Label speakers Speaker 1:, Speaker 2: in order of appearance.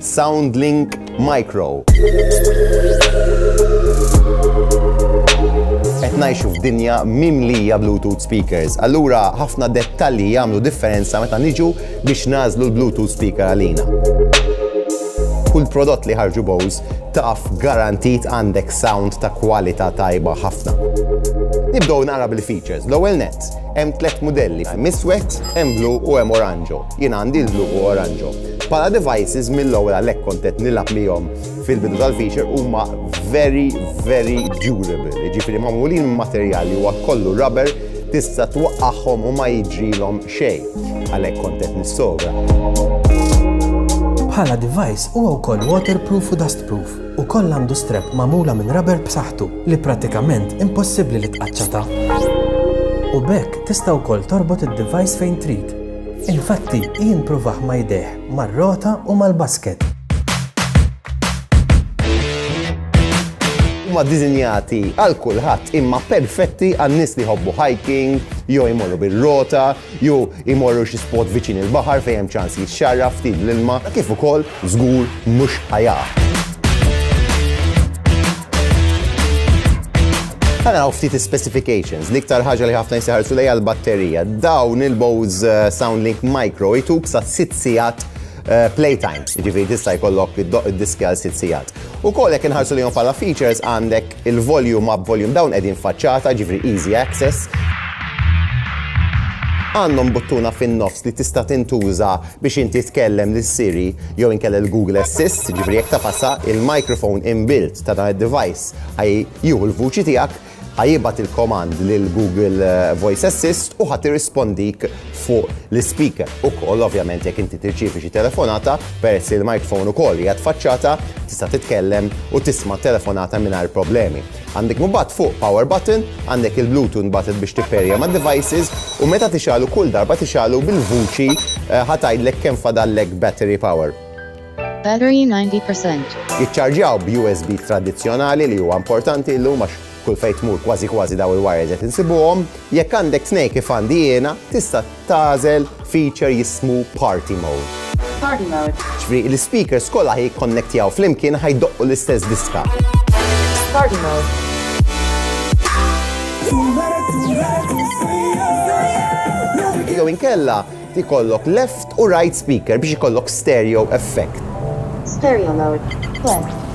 Speaker 1: Soundlink Micro. Qed ngħixu f'dinja mimlija Bluetooth speakers, allura ħafna dettalji jagħmlu differenza meta niġu biex nagħżlu l-Bluetooth speaker għalina. Kull prodott li ħarġu Bose taf garantit għandek sound ta' kwalità tajba ħafna. Nibdew nara bil-features. L-ewwel net, hemm tliet modelli, hemm iswed, hemm blu u hemm oranġo. Jien għandi l-blu u oranġo. Pala devices mill-ewwel għalhekk kont qed nilgħab lihom fil-bidu tal-feature huma very very durable. Jiġifieri magħmulin materjali huwa kollu rubber tista' twaqqagħhom u ma jiġrilhom xejn. Għalhekk kont qed nissogra.
Speaker 2: Bħala device huwa wkoll waterproof u dustproof u kollha għandu strep magħmula minn rubber b'saħħtu li prattikament impossibbli li tqaċċata. U b'hekk tista' wkoll torbot id-device fejn trid Infatti, jien provah ma' jdejh, mar-rota u mal-basket.
Speaker 1: Huma ddisinjati għal kulħadd imma perfetti għan-nies li jħobbu hiking, jew imorru bir-rota, jew imorru xi spot viċin il-baħar fejn hemm ċans jixxarraf ftit bl-ilma, kif ukoll Żgur mhux ħa jaqa'. Ħa naraw ftit is-specifications. L-iktar ħaġa li ħafna jsiħarsu lejha l-batterija. Dawn il-Bose eh, SoundLink Micro jtuk sa 6 sigħat Eh, playtime, ġifiri tista' jkollok id-diski għal sitt sigħat. U kollek inħarsu li jom bħala features għandek il-volume up volume down qegħdin faċċata, ġifiri easy access. Għandhom buttuna fin-nofs li tista' tintuża biex inti tkellem lil Siri jew inkella lil Google Assist, jiġifieri jekk tagħfasha, il-microphone in-built ta' dan id-device ħa jieħu l-vuċi tiegħek, ħa jibgħat il-command lil Google Voice Assist u ħa tirrispondik fuq l-ispeaker. Ukoll ovvjament jekk inti tirċievi xi telefonata, peress li l-microphone ukoll qiegħed faċċata, tista' titkellem u tisma' t-telefonata mingħajr problemi. Għandek mbagħad fuq power button, għandek il-Bluetooth mbagħad biex tipperja mad-devices u meta tixgħalu kull darba tixgħalu bil-vuċi ħa tgħidlek kemm fadallek battery power. Battery 90
Speaker 3: percent. Jiċċarġjaw
Speaker 1: b'USB tradizzjonali li huwa importanti illum għax kull fejn tmur kważi kważi dawn il-wires qed insibuhom. Jekk għandek tnejn kif għandi jiena tista' Tagħżel feature jismu Party Mode. Party Mode.
Speaker 3: Ġifri, l-speakers
Speaker 1: kollha ħaj jikkonnektjaw flimkien ħaj doqqu l-istess diska.
Speaker 3: Party
Speaker 1: Mode. Jew inkella ikollok left u right speaker biex ikollok stereo
Speaker 3: effect.
Speaker 1: Stereo mode. Left.